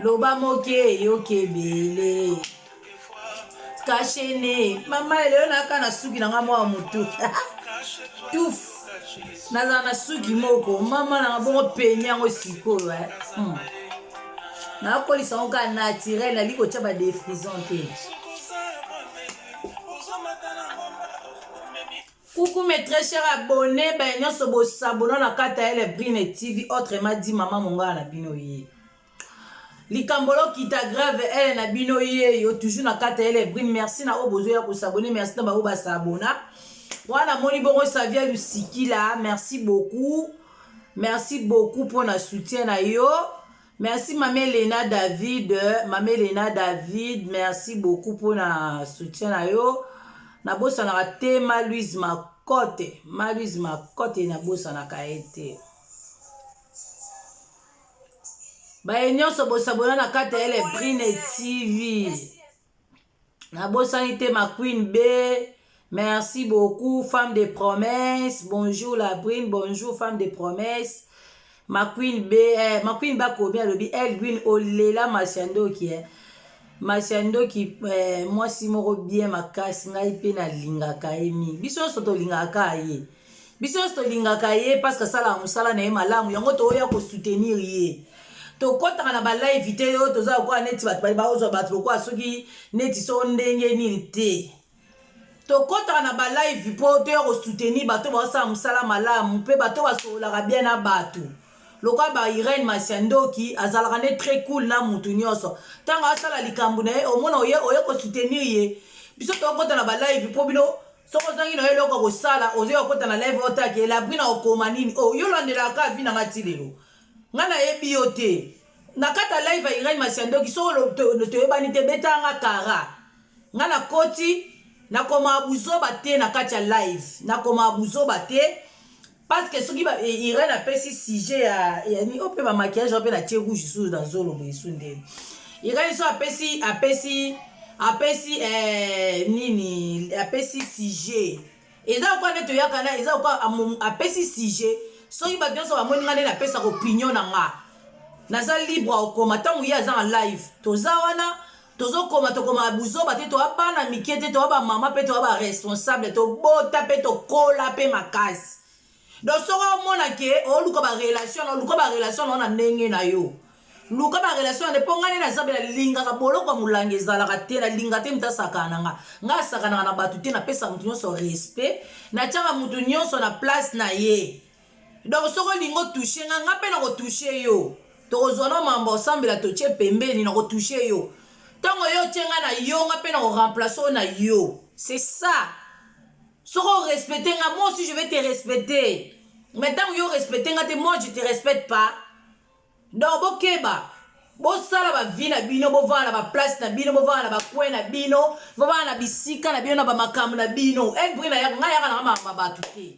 loba moke eyoki ebele kashene mama elelo naka na suki na nga mwa motu tuf nazala na suki moko mama nanga bongo peni yango sikoyo eh. hmm. nakolisa yango kaka naturel nali kotya badefrison te Coucou mes très chers abonnés, baye nyonso bosabona na kata ya Lebrine TV, autrement dit mama mongala na bino ye. Likambo lokita grave ele na bino ye yo toujours na kata ya Lebrine, merci na oyo bozoya kosabone, merci na baoyo basabona. Wana moni bongo Savia Lusikila, merci beaucoup. Merci beaucoup mpo na soutien na yo. Merci mama Elena David, mama Elena David, merci beaucoup pona soutien na yo. Nabosanaka te ma Louise Makote, ma Louise Makote nabosanaka ye te. Baye nyonso bosabona na kati ya Elebrine TV. nabosani te ma queen b merci beaucoup femme de promesse bonjour la brune bonjour femme de promesse ma queen b eh, ma queen bakomi alobi elgwin olela masi ya ndoki eh. masi ya ndoki eh, mwasi moko bien makasi ngai mpe nalingaka ye mingi biso nyonso tolingaka ye biso nyonso tolingaka ye parceke asalaka mosala na ye malamu yango tooya kosoutenir ye tokɔtaka na balive te yo toza lokola neti bato bali baozwa bato lokola soki neti so ndenge nini te tokɔtaka na balive mpo toya kosoutenir bato baosala mosala malamu mpe bato basololaka bien na bato lokola ba irene masia ndoki azalaka nde très cool na motu nyonso ntango asala likambo na ye omona oye oye kosoutenir ye biso tokɔta na balive mpo bino soki ozangi na yo eloko kosala ozwi okota na live otaki elabri na okoma nini o oh, yo olandelaka ka vi na nga ti lelo nga nayebi yo te na kati ya live ya irene masiandoki soki toyebani te betaka nga kara nga nakoti nakomaa buzoba te na kati ya live nakomaa buzoba te parce que soki ba eh, Irène apesi sujet ya ya ni ope ba maquillage ope na tie rouge sous na zolo boye sous ndele Irène so apesi apesi apesi eh, nini apesi sujet eza kwa nde toyaka na eza kwa apesi sujet soki bato nyonso bamoni nga nde napesaka opinion na nga naza libre okoma ntango ye aza na live toza wana tozokoma tokomaka buzoba te toa bana mike te toa bamama mpe toa baresponsable tobota mpe tokola mpe makasi donc soki omona ke oluka barelation na oluka barelation nao na ndenge na yo luka barelation na nde mpo ngai nde naza mpe nalingaka boloko ya molanga ezalaka te nalinga te moto asakana na nga ngai asakanaka na bato te napesa moto nyonso respect natyaka moto nyonso na place na ye donc soki olingi otouche nga nga mpe nakotouche yo tokozwa no mambo osambela totie pembeni nakotouche yo ntango yo otie nga na yo nga mpe nakoremplace oyo na yo c'est ça soki orespecte nga moi aussi je vais te respecter mais ntango yo orespecte nga te moi je te respecte pas donc bokeba bosala bavi na bino bovanda na baplace na bino bovanda na bacoin na bino bovanda na bisika na bino na bamakambo na bino elbri na yaka ngai yaka nanga makambo ya bato te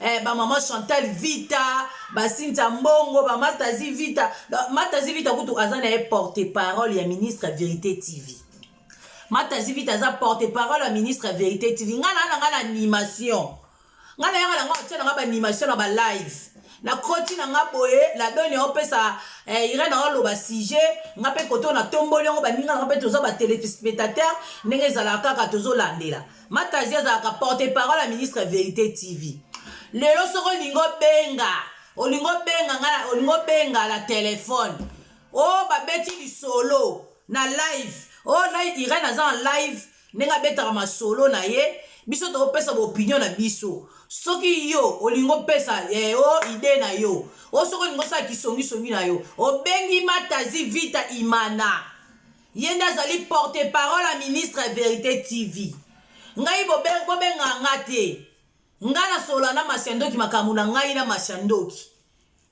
eh, ba maman Chantal Vita ba Cynthia Mbongo ba Matazi Vita Matazi Vita kutu aza na ye porte parole ya ministre ya Verite TV Matazi Vita aza porte parole ya ministre ya Verite TV nga na nga na animation nga na yanga na nga otia na nga ba animation na ba live na koti na nga boye la doni opesa eh, irene aoloba sujet nga mpe koto na tomboli yango baninga na nga mpe toza ba telespectateur ndenge ezalaka kaka tozolandela Matazi azalaka porte parole ya ministre Verite TV. Lelo soki olingi obenga, olingi obenga nga, olingi obenga na telefone. Oh babeti lisolo na live. Oh na Irene aza en live ndenge abetaka masolo na ye. Biso topesa opinion na biso. Soki yo olingi opesa eh, oh idee na yo. Oh soki olingi osala kisongisongi na yo. Obengi Matazi Vita Imana. Ye nde azali porte parole ya ministre ya Verite TV. Ngai bobenga nga te. Nga na sola na Masiandoki makambo na ngai na Masiandoki.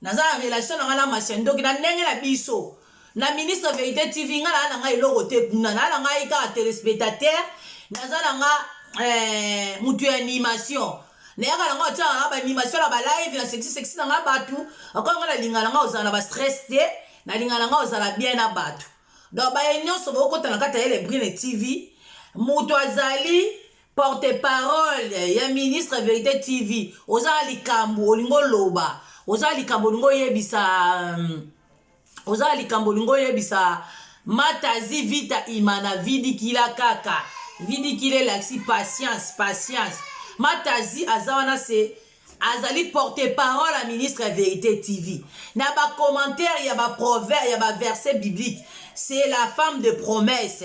Naza na relation na nga na Masiandoki na ndenge na biso. Na ministre Verite TV nga na na nga eloko te kuna. Na na ngai kaka telespectateur. Naza na nga eh, mutu ya animation. nayaka nanga otyaka nanga baanimation na balive na sexi sexi nanga bato akoya ngai nalinga nanga ozala na bastress te nalinga nanga ozala bien na bato donc baye nyonso bokota na kati ya elebrine tv moto azali porte parole ya ministre verité tv oza na likambo olingi oloba oza na likambo olingi oyebisa um, oza na likambo olingi oyebisa matazi vita imana vidikila kaka vidikila elakisi patience patience matazi aza wana se azali porte parole ya ministre ya verite tv na bacommentaire ya baproverbe ya baverset biblique c'est la femme de promesse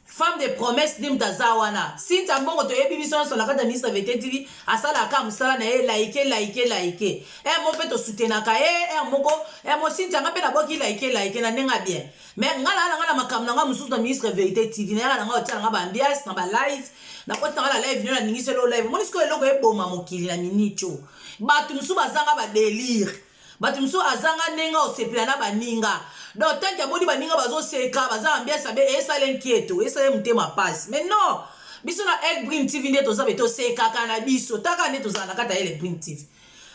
femme de promesse nde moto aza wana sinta mbongo toyebi biso nyonso na kati ya ministre ya verite tv asalaka mosala na ye laike laike laike emo mpe tosutenaka ye ere moko emo sinta nga mpe nabwaki laike laike na ndenge ya bien mais nga na nga na makambo na nga mosusu na ministre verité tv na yaka na nga otia na nga ba ambiance na ba live na koti na nga na live nio na ningisi elo live omoni sikoyo eloko eboma mokili na minute oyo bato mosusu bazanga ba delire bato mosusu azanga ndenge osepela na baninga donc tanke amoni baninga bazoseka baza ambiance abe esala nkieto esala motema mpasi mais non biso na elbrin tv nde toza be tosekaka na biso taka nde tozala na kati ya elbrin tv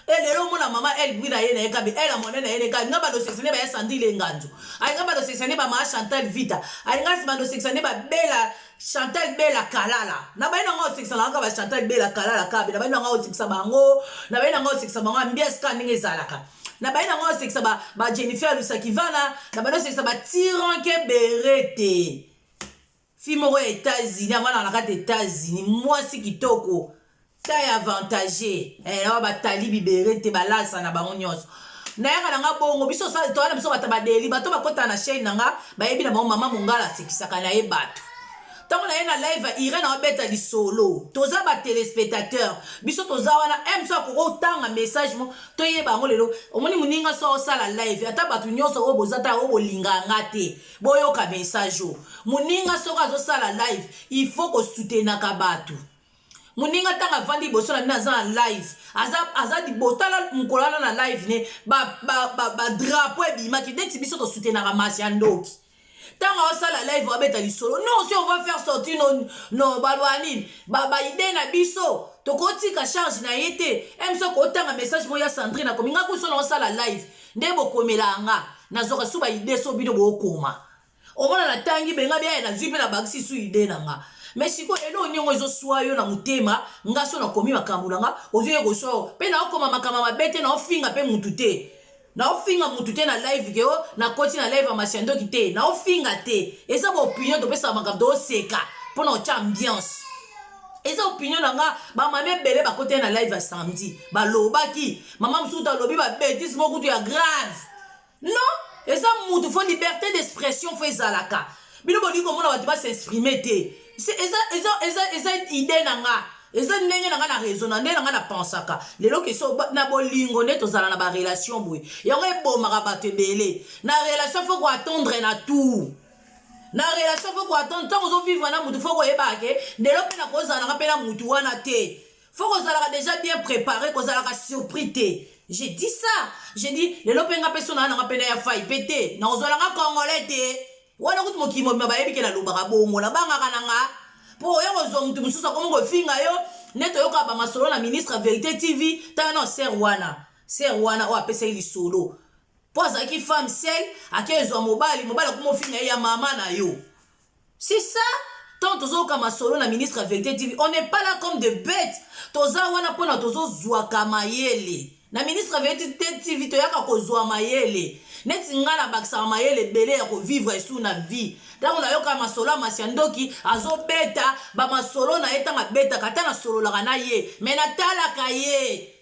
e eh, lelo omona mama el bwi na ye na ye kabe el amone na ye neka alinga bandosekisa nde baya sandi ile nganzo alinga bandosekisa nde bamaa chantal vita alinga bandosekisa nde babela chantal bela kalala na bayi na ngai osekisaka kaka ba chantal bela kalala kabe na bayi na ngai osekisa bango na bayi na ngai osekisa bango ambiance kaka ndenge ezalaka na bayi na ngai osekisa ba jennifer lusakivana na bayi osekisa ba tiranke berete Fille moko ya Etats-Unis, avanda na kati Etats-Unis, mwasi kitoko, taille avantagée, eh, na ba tali bibere te, balasa na bango nyonso. Nayaka na nga bongo, biso sala toyana biso bata badeli, bato bakota na chaîne na nga, bayebi na bango mama mongala asekisaka na ye bato. Tango na ye na live ya Irène abeta lisolo. Toza ba téléspectateurs. Biso toza wana M so akoko tanga message mo toyeba yango lelo. Omoni muninga so osala live ata bato nyonso oyo boza ta oyo bolinga nga te. boyoka message oyo moninga soko azosala live il faut kosutenaka bato moninga ntango avandi liboso na bino aza na live aza libotala mokolo wana na live ne badrapo ebimaki ndeti biso tosutenaka masi ya ndoki ntango aosala live abeta lisolo non si on va faire sortir no, no baloba nini baide na biso tokotika charge na ye te emso kotanga message moko ya sandrine akomi nga kuso na osala live nde bokomelaka nga nazwaka su baide so bino bokoma omona natangi benga biaye nazwi mpe nabakisi su ide na nga me sikoyo eloko niongo ezoswa yo na motema nga so nakomi makambo na nga ozoye koswa yo mpe naokoma makambo mabe te naofinga mpe mutu te naofinga mutu te na live ke o nakoti na live ya masi ya ndoki te naofinga te eza baopinion topesaka makambo tooseka mpo na otya ambiance eza opinion na nga bamama ebele bakoteli na live ya samedi balobaki Maman Msutu alobi ba bêtises moko kutu ya grave. Non, eza mutu faut liberté d'expression faut ezalaka. Bino bolingi komona bato ba s'exprimer te. Se- Eza eza eza eza idée na nga. Eza ndenge na nga na raisonna, ndenge na nga na pensaka. Lelo keso ba- na bolingo nde tozala na ba relation boye. Yango ebomaka bato ebele. Na relation faut ko attendre na tout. na relation faut ko attendre ntango ozo vivre na mutu faut koyebaka ke lelo mpe nakozala nanga mpe na mutu wana te faut kozalaka déjà bien préparé kozalaka surpris te je dis ça je dis lelo mpe nga mpe so naa nanga mpe na ya fai mpe te na kozwalanga congolais te wana kutu mokili mobima bayebi ke nalobaka bongo nabangaka na nga mpo oya kozwa motu mosusu akomi kofinga yo nde toyoka bamasolo na ministre verité tv ntango na ser wana ser wana oyo apesaki lisolo mpo azalaki femme sel ake ezwa mobali mobali akomi ofinga ye ya mama na yo C'est ça tant tozoyoka masolo na ministre ya verite tv on n'est pas là comme de bete toza wana mpona tozozwaka mayele na ministre ya verite tv toyaka kozwa mayele neti ngai nabakisaka mayele ebele ya kovivre esu na vie ntango nayoka masolo ya masi ya ndoki azobeta bamasolo na ye ntango abetaka ata nasololaka na ye me natalaka ye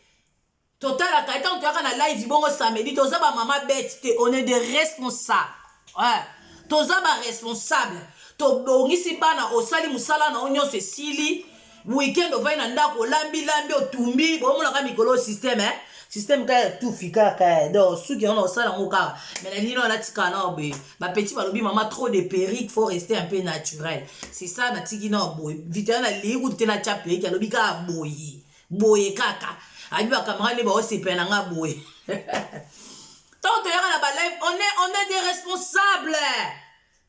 Totalaka ye tango toyaka na live bongo samedi toza ba mama bete te on est de responsable eh, toza ba responsable tobongisi bana osali mosala na yo nyonso esili weekend ovai na ndako olambi lambi otumbi bomonaka mikolo systeme eh? systeme kaka ya tufi kaka eh, donc suki yango naosala yango kaka mai na lino alatika nao boye bapeti balobi mama trop de perique faut rester un peu naturel c'est ça natiki nao boye vitana nalii kutu te natya perique alobi kaka boye boye kaka abi bakamera nde baosepela na nga boye ntango toyaka na balive on est, on est des responsables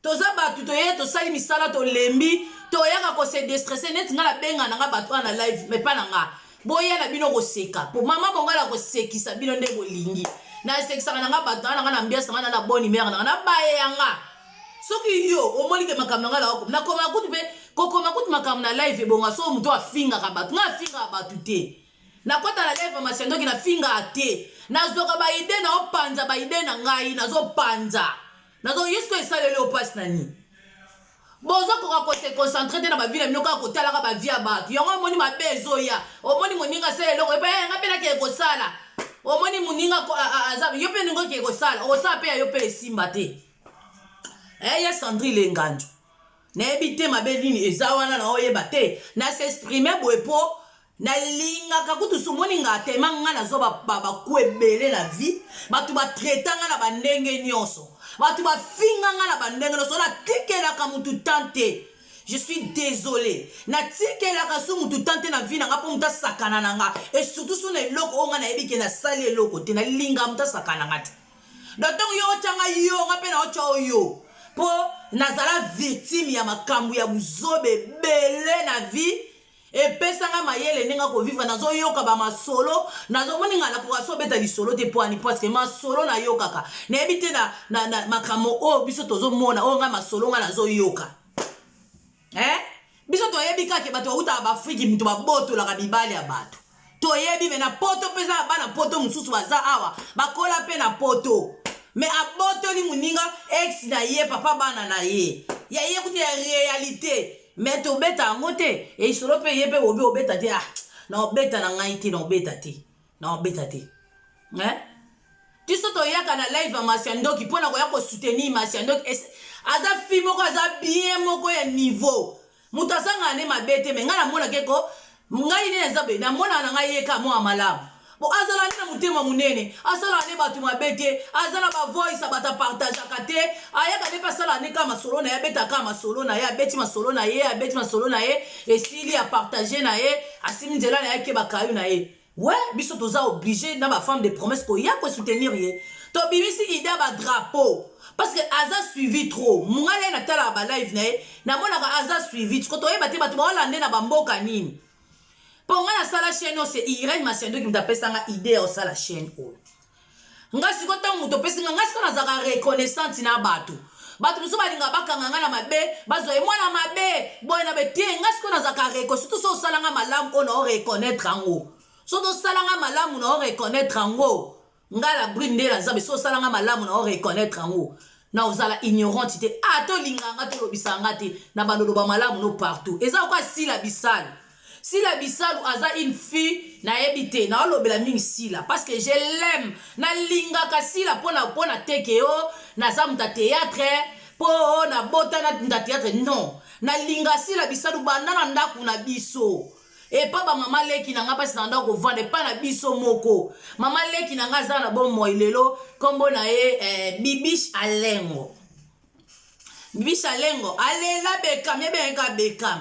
toza bato toye tosali misala tolembi toyaka kose destresse neti ngai nabenga na ngai bato wana na live me pa na ngai boya na bino koseka po mama mongai na kosekisa bino nde bolingi nasekisaka na ngai bato wana na ngai na mbiasa ngai na na boni mere na ngai na baye ya ngai soki yo omoni ke makambo na ngai naokom nakomaka kutu mpe kokoma kutu makambo na live ebonga soko moto afingaka bato ngai afingaka bato te nakota na live ya masiandoki nafingaka te nazwaka baide naopanza baide na ngai nazopanza nazo yesu esaleli yo mpasi na nini bozokoka kose concentre te na bavi na bino kaka kotalaka bavi ya bato yango omoni mabe ezoya omoni moninga asala eloko epa yanga mpe nake ekosala omoni moninga aza yo mpe ningo ke ekosala okosala mpe ya yo mpe esimba te eh, ya sandri lengandu nayebi te mabe nini eza wana na oyeba te na s'exprime boye mpo nalingaka kutu somoni nga tema nga nazwa babaku ebele na vie bato batraita nga na bandenge nyonso bato bafinga nga na bandenge nyonso natikelaka motu tan te je suis désolé natikelaka su motu tan te na vie na nga mpo motu asakana na nga e surtout su na eloko oyo nga nayebi ke nasali eloko te nalinga motu asakana nga te donc ntango yo otya ngai yo nga mpe naotya oyo yo mpo nazala victime ya makambo ya buzoba ebele na vie epesanga mayele ndenge akovivre nazoyoka bamasolo nazomoni ngai nakoka so obeta lisolo te mpo ani parceke masolo nayokaka nayebi te na, na, na makambo oyo biso tozomona oyo ngai masolo ngai nazoyoka eh? biso toyebi kaka ke bato bautaka baafriki moto babotolaka mibali ya bato toyebi me na poto mpe eza na bana poto mosusu baza awa bakola mpe na poto me abotoli moninga ex na ye papa bana na ye ya ye kutu ya realite me tobeta yango te eisolo mpe ye mpe bobi obeta te ah na obeta na ngai te na obeta te na obeta te eh? biso toyaka na live ya masi ya ndoki mpo na koya kosoutenir masi ya ndoki aza fi moko aza bien moko ya niveau moto azangaka nde mabe te me ngai namonaka eko ngai nde naza boye namonaka na ngai yeka mwa malamu bo azala nde na motema monene asalaka nde bato mabe te aza na bavoice bato apartageaka te ayaka nde mpe asalaka nde kaka masolo na ye abetaka kaka masolo na ye abeti masolo na ye abeti masolo na ye esili apartage na ye asimi nzela na ye akeba kayo na ye Ouais, biso toza oblige na ba femme de promesse ko ya ko soutenir ye. To bimisi idée ba drapeau parce que aza suivi trop. Mungala na tala ba live na ye, na mona ka aza suivi. Ko toyeba te bato ba Hollande na ba mboka nini. Po nga na sala chaîne c'est Irène Masiando qui m'a pesanga idée ya sala chaîne oyo. nga siko ntango moto opesi nga nga siko nazalaka reconnaissante na bato bato mosusu balingaka bakanga nga na mabe bazwa ye mwana mabe boye na bete nga siko nazalaka reko surtout so osala nga malamu oyo nao reconnaître yango so tosala nga malamu nao reconnaître yango nga la brune nde na nzambe so osala nga malamu nao reconnaître yango na ozala ignorante te a ah, tolingaka nga tolobisaka nga te na bandoloba malamu no partout eza okoa sila bisale Sila Bisalu aza une fille nayebi te na olobela mingi Sila parce que je l'aime na lingaka Sila pona pona teke o oh, naza muta théâtre po oh, na bota na muta théâtre non na linga Sila Bisalu banda na ndaku na biso epa ba mama leki na nga pasi na ndako kovanda epa na biso moko mama leki na nga aza na bomoi lelo kombo na ye eh, bibish alengo bibi shalengo alela bekam yebengaka bekam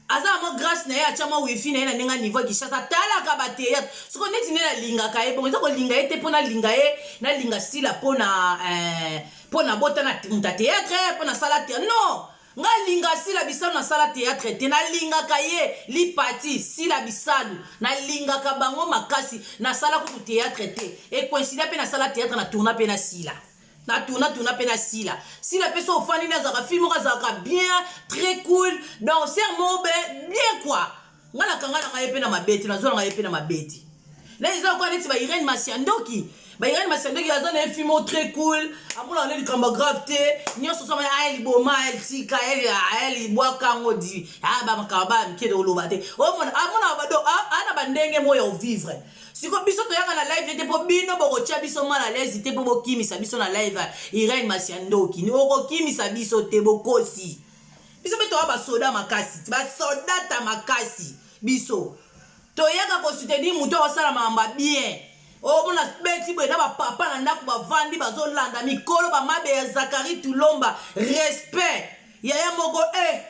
aza na mwa grace na ye atya mwa wifi na ye na ndenge ya niveau ya kishasa atalaka bateatre soko neti nde nalingaka ye bongo eza kolinga ye te mpo nalinga ye nalinga sila mpo na mpo eh, nabota na muta teatre mpo nasala te non nga linga sila bisalu nasala théâtre te nalingaka ye lipati sila bisalu nalingaka bango makasi nasala kutu théâtre te ekoinsida mpe nasala théâtre na tourna mpe na sila na tuna tuna pe na sila sila pe so ofandi nde azalaka fille moko azalaka bien très cool danser moko be bien quoi nga na kanga na ngai pe na mabeti na zona ngai pe na mabeti na eza kwa neti ba Irene Masiandoki ba Irene Masiandoki aza na fille moko très cool amona na likambo grave te nyonso so maya aye liboma aye tika aye libwaka ngo di ah ba makaba ba mike de oloba te omona amona ba do ana ba ndenge moya o vivre siko biso toyaka na live te mpo bino bokotya biso mal alaise te mpo bokimisa biso na live irene masia ndoki okokimisa biso te bokosi biso mpe toya basoda makasi basodata makasi biso toyaka kosoutenir moto akosala makambo ya bien omona oh, beti boye na bapapa na ndako bavandi bazolanda mikolo bamabe ya zakari tulomba respect yaya moko e eh,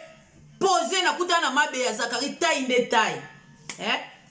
pose nakutana na mabe ya zakari tai nde tai eh?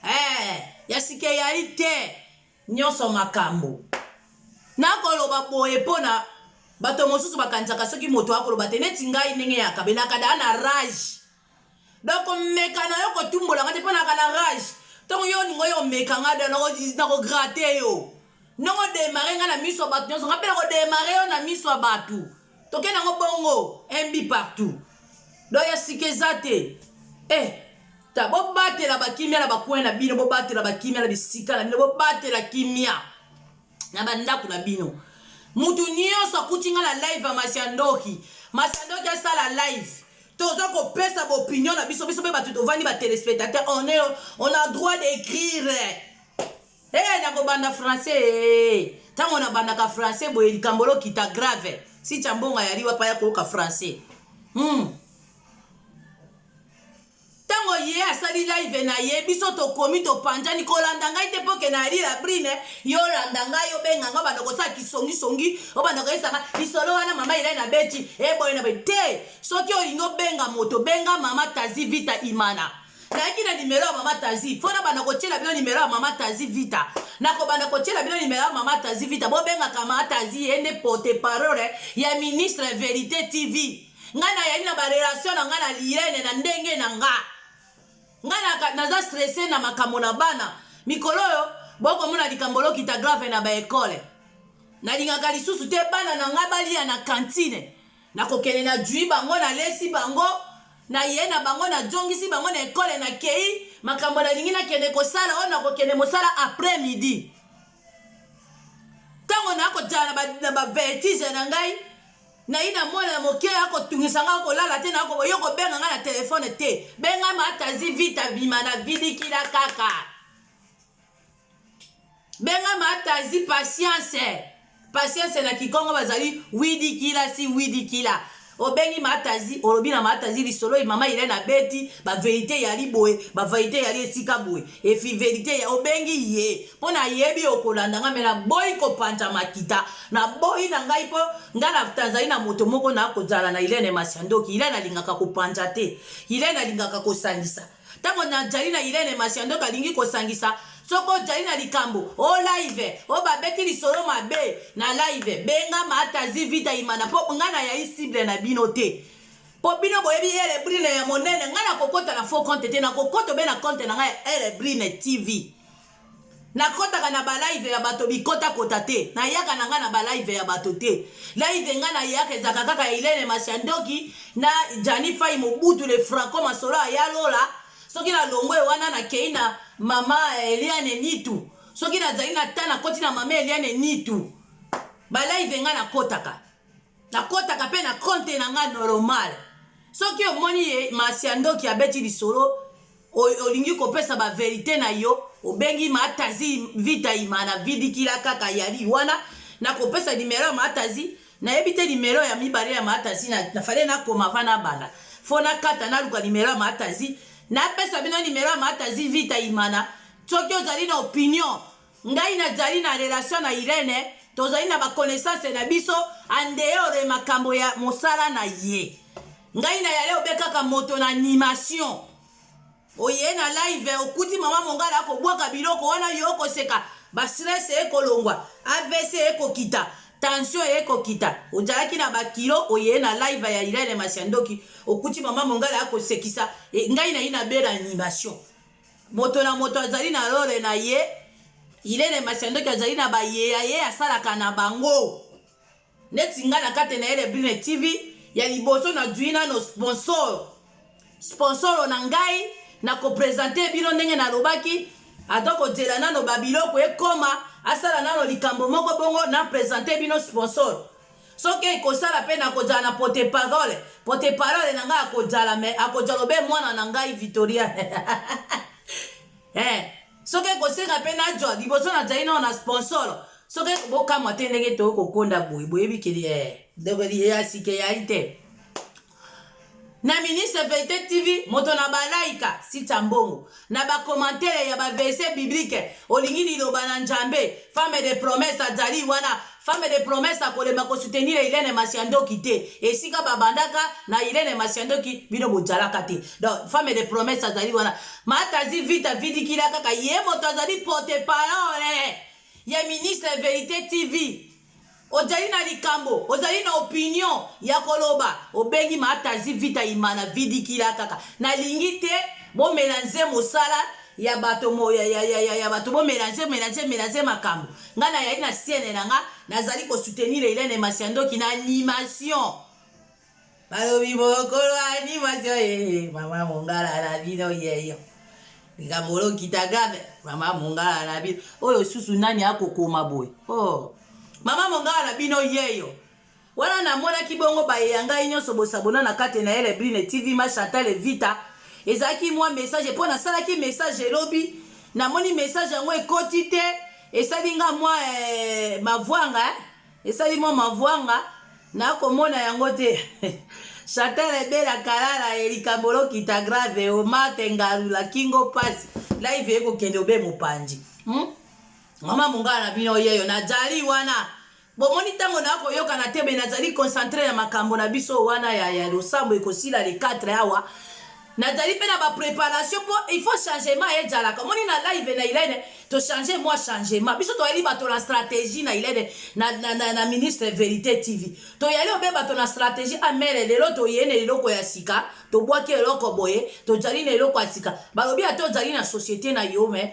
Hey, ya sika eyali te nyonso makambo nakoloba boye mpo na bato mosusu bakanisaka soki moto akoloba te neti ngai ndenge ya kabelaka daa na rage donc omeka na yo kotumbola nga te mpo naka na rage ntongo yo olingo yo omeka nga da nakograte yo ndongo demare nga na miso ya bato nyonso nga mpe nakodemare yo na miso ya bato tokende yango bongo mb partout donc ya sika eza te eh ta bobatela bakimia na bakwin na bino bobatela bakimia na bisika na bino bobatela kimia na bandako na bino moto nyonso akuti ngai na live ya masiandoki masiandoki asala live toza kopesa baopinion na biso biso mpe bato tovandi batelespectateur on, on a droit d'écrire Hey, nakobanda français hey. Tango nabandaka français boye likambo lokita grave si chambonga yali wapa ya koyoka français hmm. Tango ye asali live na ye biso tokomi topanjani kolanda ngai te mpoke na yali la brine yo olanda ngai obenga ngai obanda kosala kisongisongi obanda koyesaka lisolo wana mama elai na beti eboye eh, na boye te soki olingi obenga moto benga mama tazi vita imana nayaki na nimero ya mama tazi mpo nabanda kotyela bino nimero ya mama tazi vita nakobanda kotyela bino nimero ya mama tazi vita bobengaka mama tazi ye nde porte parole ya ministre ya verité tv ngai nayali na barelation na ngai na liyene na ndenge na nga ngai naza stresse na makambo na bana mikolo oyo bokomona likambo lokita grave na baekole nalingaka lisusu te bana na ngai balia na kantine Nakokende na jui bango na lesi bango na ye na bango na jongisi bango na ekole na kei makambo na lingi na kende kosala oyo nakokende mosala après midi tango na kojala na ba vertige na ngai nayi na mwana ya moke akotungisa ngai akolala te nakoyo kobenga ngai na telefone te benga matazi vita bima na vidikila kaka benga matazi patience patience na kikongo bazali widikila si widikila obengi matazi olobi na matazi lisolo ye mama irene abeti baverite yali boye baverite yali esika boye efi verite ya obengi ye mpo na yebi okolanda ngai me naboyi kopanza makita naboyi na ngai mpo ngai na tanzali na moto moko nakozala na irene masiandoki irene alingaka kopanza te irene alingaka kosangisa Tango najali na Irene Masiya ndoto alingi kosangisa soki ojali na likambo o live o babeti lisolo mabe na live benga matazi vita imana mpo ngai nayayi cible na bino te mpo bino boyebi elebrine ya monene ngai nakokota na faux compte te nakokota obe na compte na ngai ya elebrine tv nakotaka na balive ya bato bikotakota te nayaka na ngai na balive ya bato te live ngai nayaka ezalaka kaka ya ilene masiandoki na jani fai mobutu le franco masolo aya lola soki nalongwe wana nakei na mama eliane nitu soki nazali na ta nakoti na mama eliane nitu balive ngai nakotaka nakotaka mpe na konte na ngai normal soki omoni ye masi ya ndoki abeti lisolo olingi kopesa baverite na yo obengi matazi vita ima na vidikila kaka yali wana nakopesa nimero ya matazi nayebi te nimero ya mibale ya matazi nafale nakoma va nabanda fo nakata naluka nimero ya matazi napesa bino nimero ya matazi vita imana soki ozali na opinion ngai nazali na relation na irene tozali na baconnaissance na biso andeore makambo ya mosala na ye ngai na yale obe kaka moto na animation oye na live okuti mama mongala akobwaka biloko wana yo okoseka bastress ekolongwa avc ekokita tension ekokita ozalaki na bakilo oye na live ya irene masiandoki okuti mama mongala akosekisa e, ngai nayi na bela animation moto na moto azali na lole na ye ilene masiandoki azali na baye ya ye asalaka na bango neti ngai na kati na ye lebline tv ya liboso nazwi nano sponsor sponsoro na ngai na kopresente bino ndenge nalobaki ata kozela nano babiloko ekoma asala nano likambo moko bongo na presente bino sponsor soki ekosala mpe nakozala na pote parole pote parole na ngai akozala me akozala obe mwana na ngai victoria eh, soki ekosenga mpe najwa liboso nazali nao na sponsor soki bokamwa te ndenge tokokonda boye boyebi keli eh, ndeko ya sika eyai te na ministre verite tv moto na balaika sita mbongo na bakomantere ya baverse biblike olingi liloba na njambe femme de promesse azali wana femme de promesse akolemba kosoutenir Helene Masiandoki te esika babandaka na Helene Masiandoki bino bojalaka te donc femme de promesse azali wana matazi vita vidikila kaka ye moto azali porte parole ya ministre verite tv Ojali na likambo, ozali na opinion ya koloba, obengi matazi vita imana vidikila kaka. Na lingi te bo melange mosala ya bato mo, ya, ya, ya, ya, ya bato bo melange, melange, melange makambo. Nga na yali na siene na nga, na zali ko soutenir Helène Masiandoki na animation. balobi mokolo animation yeye eh, mama mongala na bino yeyo likambo olokita grave mama mongala na bino oyo susu nani akokoma boye oh. mama mongala na bino yeyo wana namonaki bongo baye ya ngai nyonso bosabona na kati na ele brine tv ma chantal evita ezalaki mwa message mpo nasalaki message elobi namoni message yango ekoti te esali nga mwa eh, mavwanga eh? Esali mwa mavwanga na komona yango te. Chantal ebela kalala e likambo lokita grave o mate ngalu la kingo pasi live ekokende obe mopanzi hmm? mama mongala na bino yeyo najali wana bomoni ntango nakoyokana te me nazali concentre na makambo na biso wana ya, ya losambo ekosila le 4 awa Nazali mpe na ba preparation mpo il faut changement ejalaka. Omoni na live na Ilene to change mwa changement. Biso toyali bato na strategie na Ilene na, na, na, na ministre Verite TV. Toyali obe bato na strategie amele ah, lelo toye na eloko ya sika, tobwaki eloko boye, tojali na eloko ya sika. Balobi ata ojali na societe na yo mais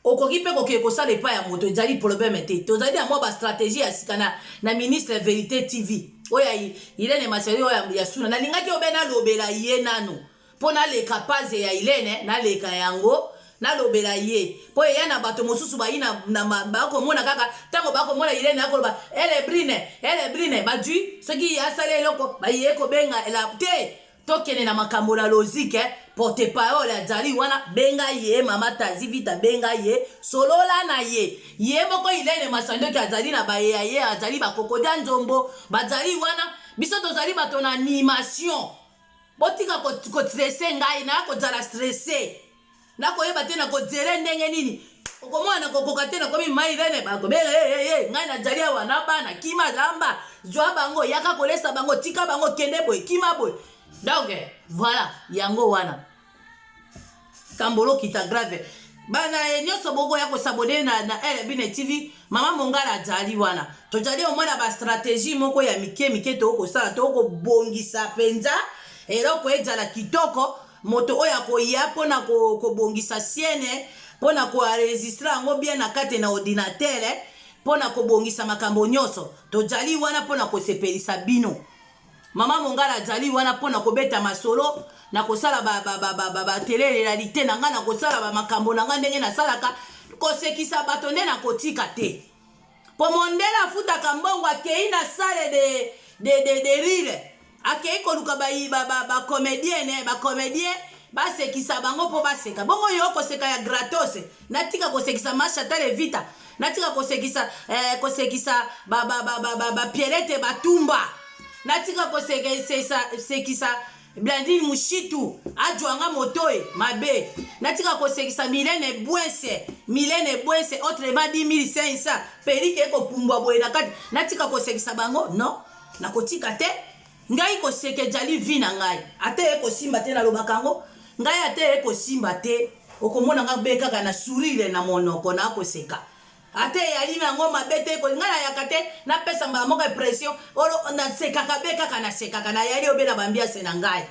Okoki pe kokende kosala epai ya moto ejali polobeme te. Tozali na mwa ba strategie ya sika na, na ministre ya Verite TV. Oyo ya Hilene Massiayo oyo ya Suna. Nalingaki yo be nalobela ye nanu. Po naleka paze ya Hilene, naleka yango, nalobela ye. Po eya na bato mosusu bayi na, na ma, bakomona kaka, tango bakomona Hilene akoloba, Ele Brine! Ele Brine! Bajui, soki ye asali eloko, baye kobenga Ela. Te! tokende na makambo na logique eh? porte parole ya jali wana benga ye mama tazi vita benga ye solola na ye ye moko ilene masandoki azali na baye ya ye azali bakokodia nzombo bazali wana biso tozali bato na animation botika kotrese ko ngai naya kozala stresse nakoyeba te nakodzele ndenge nini okomona nakokoka te nakomi mai rene bakobele eh, eh, eh, ngai najali awa na bana kima lamba zwa bango yaka kolesa bango tika bango kende boye kima boye donc voilà yango wana kambolo kita grave bana ye nyonso bokoya kosabone na, na rbine tv mama mongala ajali wana tojali omona bastratégie moko ya mike mike tokokosala tokobongisa mpenza eloko ejala kitoko moto oyo akoya mpo na kobongisa siene mpo na koenregistre yango bien na kati na ordinatere mpo na kobongisa makambo nyonso tojali wana mpo na kosepelisa bino mama mongala ajali wana mpo na kobeta masolo na kosala batelerelalite na ngai na kosala bamakambo na ngai ndenge nasalaka kosekisa bato nde nakotika te mpo mondele afutaka mbongo akei na sale de, de, de, de rire akei koluka bacomedienne ba, ba bacomedien eh, basekisa bango mpo baseka bongo yo koseka ya gratos natika kosekisa mashata levita natika kosekisa eh, kosekisa bapierete ba, ba, ba, ba, batumba natika kosekisa Blandine Mushitu ajwanga motoe mabe natika kosekisa Milene Bwense Milene Bwense autrement 10500 pelike ekopumbwa boye na kati natika kosekisa bango non nakotika te ngai koseka ejali vi na ngai ata ye kosimba te nalobaka yango ngai ata ye kosimba te okomona ngai be kaka na sourire na monoko na koseka ata eyali na yango mabe te koli ngai nayaka te napesa mbala moko impression olo nasekaka be kaka nasekaka nayali obe na bambiase na ngai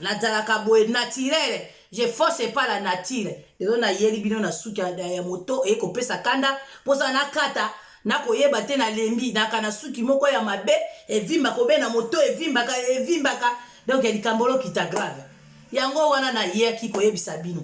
nazalaka boye naturele je force epa la nature lelo nayeli bino na suki ya moto eye kopesa kanda mposa nakata nakoyeba te nalembi naka na suki moko ya mabe evimbaka obe na moto evimbaka evimbaka donk likambo lokita grave yango wana nayaki koyebisa bino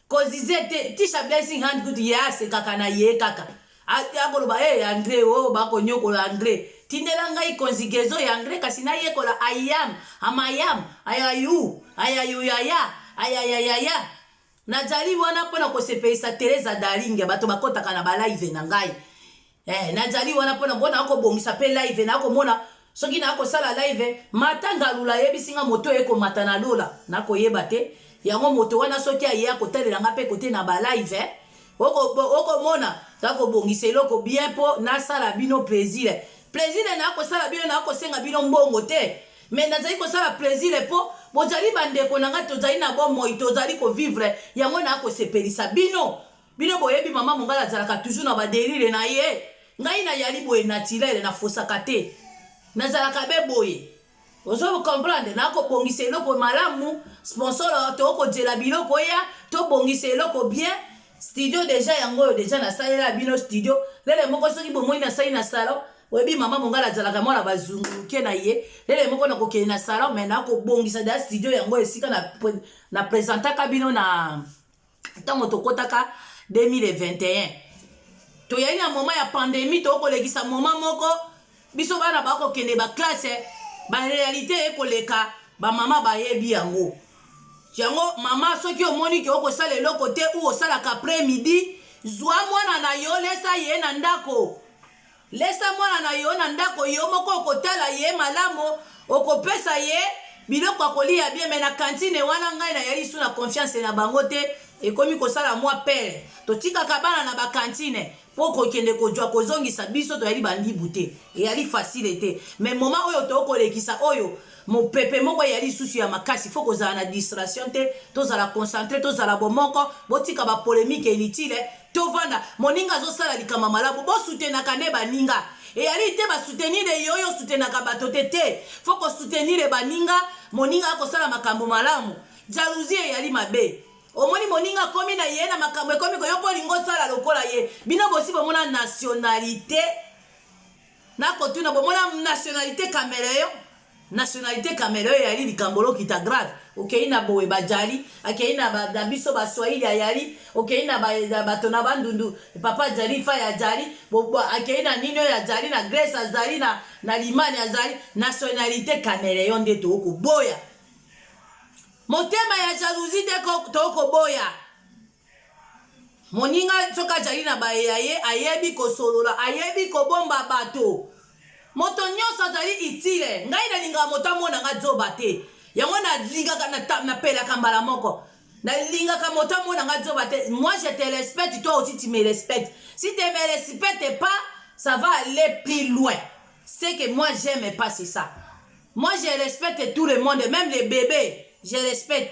Kozize te, Tisha Blessing Hand kutu ye asekaka na ye kaka. Akoloba hey, eh, Andre o oh, bakonyokola Andre. Tindela ngai conjugaison ya Andre kasi nayekola I am, am I am, I am you, I am you yaya, I am yaya. Nazali wana mpo na kosepelisa Teresa Darling, bato bakotaka na ba live na ngai. Eh, nazali wana mpo na mpo na kobongisa mpe live na komona soki na kosala live mata ngalula ayebisi nga moto eye komata na lola nakoyeba te yango moto wana soki aye akotalela nga mpe kote na balive eh? okomona kakobongisa eloko bien mpo nasala bino plaisir plaisir nakosala bino nakosenga bino mbongo te me nazali kosala plaisir mpo bozali bandeko na ngai tozali na bomoi tozali kovivre yango nakosepelisa bino Bino boyebi mama mongala azalaka toujours na ba derire na ye. Ngai na yali boye naturel na fosaka te. Nazalaka be boye. Ozo comprendre na ko bongisa eloko malamu, sponsor to ko jela biloko ya, to bongisa eloko bien. Studio deja yango oyo deja na salela bino studio. Lele moko soki bomoni na sali na salon, oyebi mama mongala azalaka mwana bazunguke na ye lele moko na kokende na salon me na kobongisa da studio yango esika na, na presentaka bino na ntango tokotaka 2021 toyei na moma ya pandemi tokolekisa moma moko biso bana bakokende baklasse barealité ekoleka bamama bayebi yango yango mama soki omoni ke okosala eloko te u osalaka après midi zwa mwana na yo lesa ye na ndako Lesa mwana na yo na ndako, yo moko okotala ye malamu, okopesa ye biloko akolia bien, mais na cantine wana ngai na yali su na confiance na bango te, ekomi kosala mwa pere. Totikaka bana na ba cantine po kokende kojwa kozongisa biso toyali bandibu te, eyali facile te, mais moment oyo tokolekisa oyo Mopepe moko eya lisusu ya makasi, faut kozala na distraction te, tozala concentre, tozala bomoko, botika ba polemique inutile, tovanda, moninga azosala likama malamu, bo soutenaka nde baninga, eyali te ba soutenir ye oyo soutenaka bato te te, faut ko soutenir baninga, moninga akosala makambo malamu, jalousie eyali mabe, omoni moninga akomi na ye na makambo ekomi ko yo mpo olingi osala lokola ye, bino bosi bomona nationalite Nakotuna bomona nationalite cameleon nationalite cameleon eyali likambo lokita grave okei na boye bajali akei na ba- na biso baswahili ayali okei na ba- na bato na bandundu papa ajali fai ajali bo- bo- akei na nini oyo ajali na grèce azali na, na limani azali nationalite cameleon nde tokoboya motema ya jalousie nde ko- tokoboya moninga soki ajali na baye ya ye ayebi kosolola ayebi kobomba bato moto nyonso azali itile ngai nalingaka moto amona nga zoba te yango nalingaka napelaka mbala moko nalingaka moto amona nga zoba te moi je te respecte toi aussi tu me respecte si te me respecte pas ça va aller plus loin c'est que moi j'aime pas c'est ça moi je respecte tout le monde même les bébés je respecte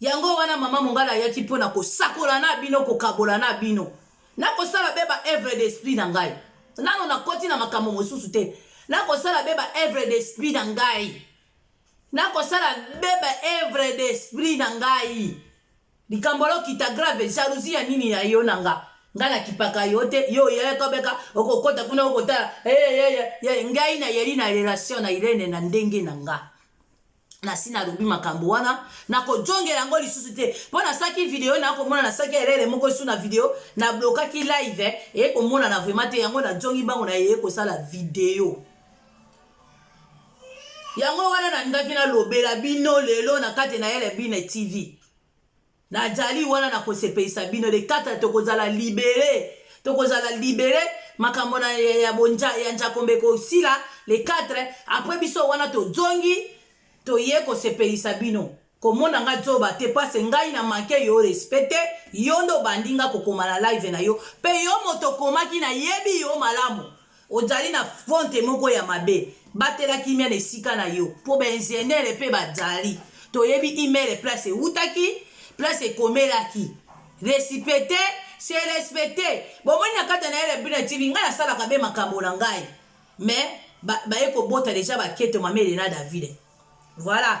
Yango wana mama mongala ayaki mpo na kosakola na bino, kokabola na bino. Nakosala be ba œuvres d'esprit na ngai. Nano nakoti na makambo mosusu te. Nakosala be ba œuvres d'esprit na ngai. Nakosala be ba œuvres d'esprit na ngai. Likambo lokita grave, jalousie ya nini ya yo na nga? Nga nakipaka yo te, yo oyaka obeka, okokota kuna okotala. Hey, hey, hey, ngai nayeli na relation na Irene na ndenge na nga. nasi nalobi makambo wana nakojongela yango lisusu te mpo nasalaki video nakomona nasalaki elele moko esu na video nablokaki live eh, eye komonana vraimen te yango najongi bango na yeye kosala video yango wana nalingaki nalobela bino lelo na kati na elebine tv Najali wana na kosepelisa bino le 4 tokozala libere tokozala libere makambo na ya bonja ya njakombe kosila le 4 apres biso wana tozongi toye kosepelisa bino komona nga zoba te pase ngai na manke yo respecte yo nde obandi nga kokoma na live na yo mpe yo moto okomaki nayebi yo malamu Ozali na fonte moko ya mabe. Batela kimia na esika na yo po ba ingenieur pe bazali. Toyebi email place ewutaki, place ekomelaki. Recipete se respecte. Bomoni na kati na Elebina TV ngai nasalaka be makambo na ngai. Mais ba baye kobota deja ba keto mamele na Davide. Voilà.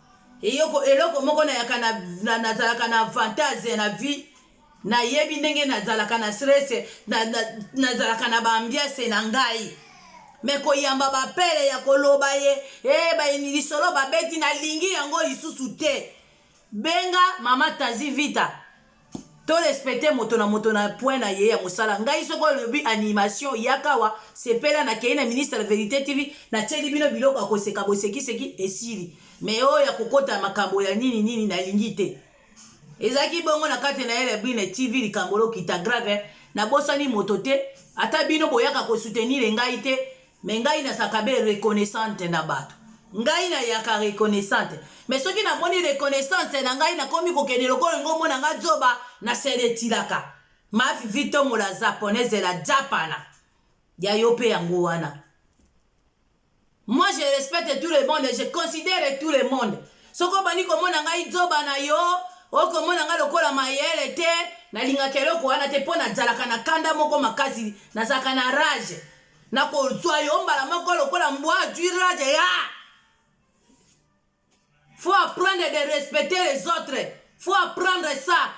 Eyoko eloko moko na yaka na, na nazalaka na avantage na vie na yebi ndenge na zalaka na stress na na nazalaka na ba ambiance na ngai me koyamba bapele ya koloba ye e ba lisolo babeti nalingi yango lisusu te benga mama tazi vita to respecte moto na moto na point na ye ya mosala ngai soki olobi animation yakawa sepela nakei na ministre ya verité tv natieli bino biloko ya koseka bosekiseki esili me oyo ya kokota makambo ya nini nini nalingi te ezalaki bongo na kati na ele brine tv likambo lokita grave nabosani moto te ata bino boyaka kosutenire ngai te mais ngai nazalaka be reconnaissante na bato ngai nayaka reconnaissante mais soki namoni reconnaissance na ngai nakomi kokende lokola ngo omona ngai zoba na seretilaka mavivi tomola japonaise la japana ya yo mpe yango wana moi je respecte tout le monde je considère tout le monde soki obandi komona ngai zoba na yo okomona ngai lokola mayele te nalingaka eloko wana te mpo nazalaka na kanda moko makasi nazalaka na rage nakozwa yo mbala moko lokola mbwa azwi rage ya faut apprendre de respecter les autres faut apprendre ça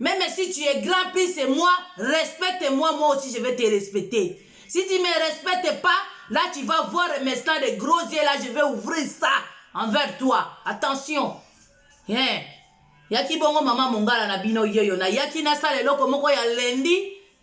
même si tu es grand plus c'est moi respecte moi moi aussi je vais te respecter si tu me respectes pas là tu vas voir maintenant des gros yeux là je vais ouvrir ça envers toi attention hein yaki bongo mama mongala na bino yeyo nayaki nasala eloko moko ya lendi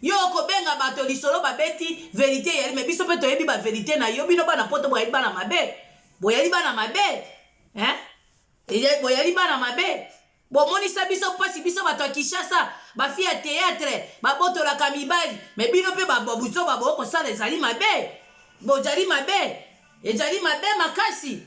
Yo okobenga bato lisolo babeti verite eyali me biso mpe toyebi ba verite na yo bino bana poto boyali bana mabe boyali bana mabe hein? boyali bana mabe bomonisa biso mpasi biso bato ya kinshasa bafi ya teatre babotolaka mibali me bino mpe babuzoba bokosala ezali mabe bojali mabe ejali mabe makasi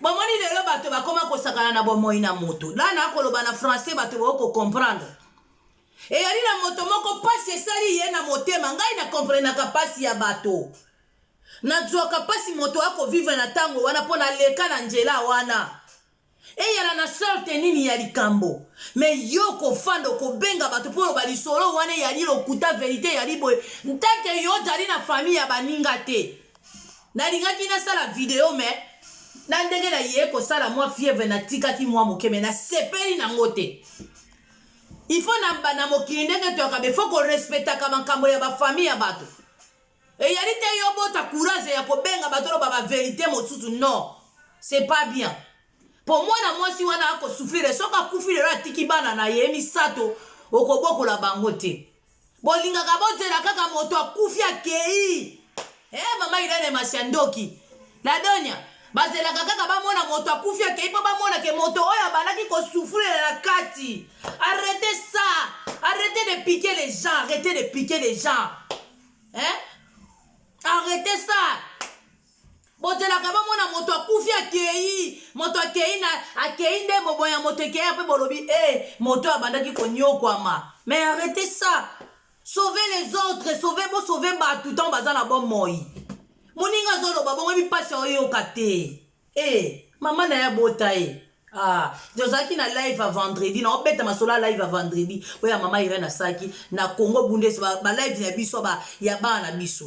bomoni lelo bato bakoma kosakana na bomoi na moto dana akoloba na français bato bakoki kocomprendre eyali na moto moko mpasi esali ye na motema ngai na komprenaka mpasi ya bato nazwaka mpasi moto akovivre na ntango wana mpo naleka na nzela wana eyala na sorte nini ya likambo me yo kofanda okobenga bato mpo oloba lisolo wana eyali lokuta verite eyali boye ntake yo ozali na famille ya baninga te nalingaki nasala video me na ndenge na ye kosala mwa fievre natikaki mwa moke me nasepeli nango te il faut na, na mokili ndenge toyaka be faut korespectaka makambo ya bafamille ya bato eyali te yo bota courage ya kobenga bato oloba baverité mosusu non c'est pas bien mpo mwana mwasi wana akosufrire soki akufi lelo atiki bana na ye misato okobokola bango te bolingaka bozela kaka moto akufi akei eh, mama irene masi ya ndoki ladonia bazelaka kaka bamona moto akufi akei mpo bamona ke moto oyo abandaki kosufulela na kati arrete ça arrete de piquer les gens arrete de piquer les gens eh? arrete ça bozelaka bomona moto akufi akei moto akei na akei nde mobo ya moto ekei mpe bolobi e eh, hey, moto oyo abandaki konyokwama mais arrete ça sauve les autres sauve bosauve bato ntango baza na bomoi moninga azoloba bongo mipasi oyoka te e eh, hey, mama na ye abota ye eh. Ah, tozalaki na live ya vendredi na obeta masolo ya live ya vendredi oyo ya mama irene asaki na congo bundes balive ba ya biso ya bana na biso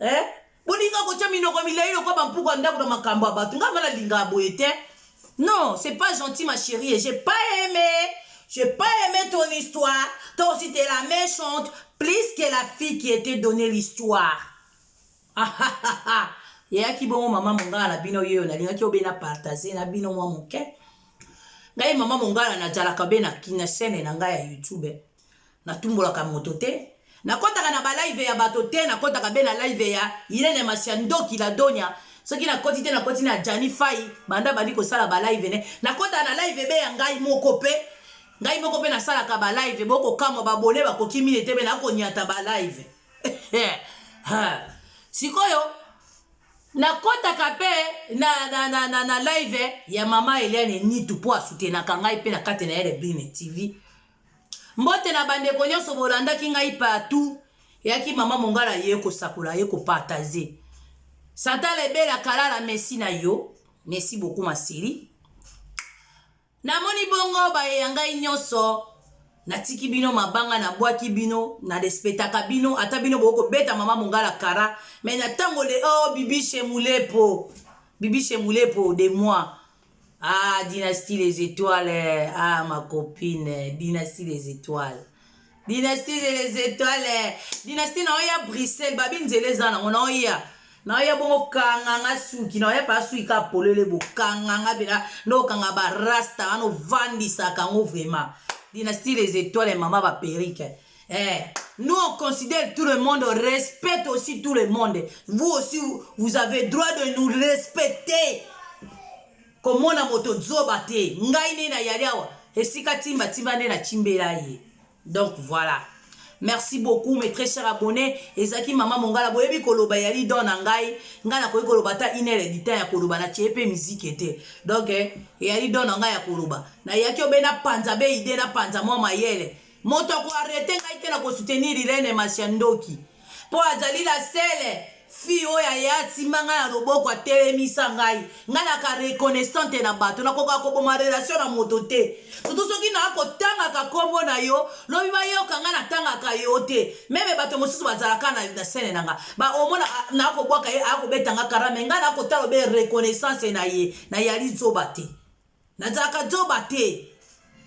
eh? bolinga kotya minoko milai lokola bampuku ya ndako na makambo ya bato ngai mala linga boye te non c'est pas gentil ma chérie j'ai pas aimé j'ai pas aimé ton histoire toi aussi t'es la méchante plus que la fille qui était donné l'histoire ah, ah, ah, ah. yeyaki bongo mama mongala na bino yeyo nalingaki obe na partage na bino mwa moke ngai mama mongala najalaka be na kinasene na ngai ya youtube Na tumbolaka moto te. Na kotaka na ba live ya bato te, na kotaka be na live ya Irene Masia ndoki la donya. Soki na koti te na koti na Djani Fayi banda bandi kosala ba live ne. Na kotaka na live be ya ngai moko pe. Ngai moko pe nasalaka ba live boko kamwa ba bole bakoki mine te be na konyata ba live. Sikoyo nakotaka mpe na, na, na, na, na live ya mama eliane nitu mpo asutenaka ngai mpe na kati na ye rebine tv Mbote na bandeko nyonso bolandaki ngai partout eyaki mama mongala ye kosakola ye kopartage santa lebela kalala mesi na yo mesi boku maseri namoni bongo baye ya ngai nyonso natiki bino mabanga nabwaki bino narespetaka bino ata bino bokoki kobeta mama mongala kara me na ntango le o oh, bibishe mulepo bibishe mulepo de moi Ah, Dynastie Les Étoiles. Ah, ma copine. Dynastie Les Étoiles. Dynastie Les Étoiles. Dynastie na oya Bruxelles. Babi nzela eza nango na oya. Na oya bongo kanganga suki. Na oya pa suki ka polele bo kanganga bela. No kanga ba rasta. Ano vandisa kango vraiment. Dynastie Les Étoiles mama ba perruque. Eh, nous on considère tout le monde, on respecte aussi tout le monde. Vous aussi, vous avez droit de nous respecter. komona moto zoba te ngai nde nayali awa esika timba timba nde natimbela ye donc voilà merci beaucoup mes très cher abonné ezalaki mama mongala boyebi koloba yali don na ngai ngai nakoki koloba ata inere ditan ya koloba natie mpe miziki te donc eh, eyali don na ngai ya koloba nayaki obe napanza be ide napanza mwa mayele Moto ako arrete ngai te na ko soutenir Irene Masia ndoki. Po azali la seule fille oyo aye asimba ngai na loboko atelemisa ngai ngai naka reconnaissante na bato nakokaka koboma relation na moto te surtout soki naa kotangaka nkombo na yo lobi bayoka ngai natangaka yo te meme bato mosusu bazalaka na, na sene na ngai baomona ah, naa kobwaka ye akobeta ngai karame ngai nakotala obe reconnaissance na ye nayali zoba te Nazalaka zoba te.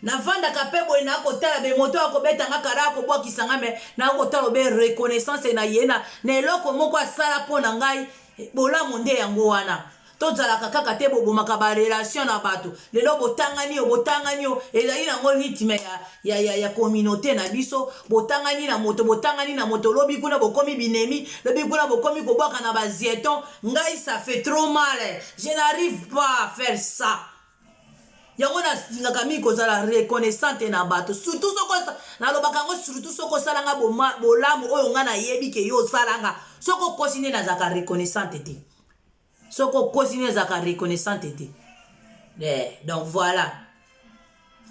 Navandaka pe boye na kotala be moto ya kobeta nga kara ya kobwakisa nga me na kotala obe reconnaissance na ye na na eloko moko asala mpo na ngai bolamu nde yango wana tozalaka kaka te bobomaka barelation na bato lelo botangani yo botangani yo ezali nango rythme ya, ya, ya, ya communauté na biso botangani na moto botangani na moto lobi kuna bokomi binemi lobi kuna bokomi kobwaka na bazieton ngai ça fait trop mal je n'arrive pas à faire ça yango nalingaka mingi kozala reconnaissante na bato surtout soko nalobaka yango surtout soko osalanga bolamu oyo ngai nayebi ke yo osalanga soko okosi nde nazalaka reconnaissante te soki okosi nini ezalaka reconnaissante te eh, donc voilà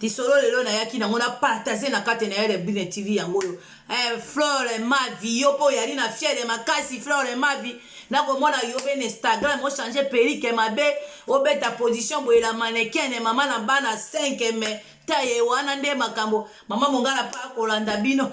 lisolo lelo nayaki nango na partage na kati na yele bine tv yango oyo eh, flore mavi yo mpo oyali na fiere makasi flore mavi nakomona yo mpe na instagram ochange perike mabe obeta position boyela manekene mama na bana 5 me taye wana nde makambo mama mongala mpa kolanda bino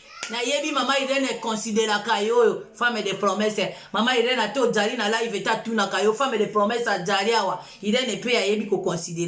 nayebi mama irene econsideraka yo oyo femme de promesse mama irene ate ojali na live ete atunaka yo femme de promesse ajali awa irene mpe ayebi koconsidere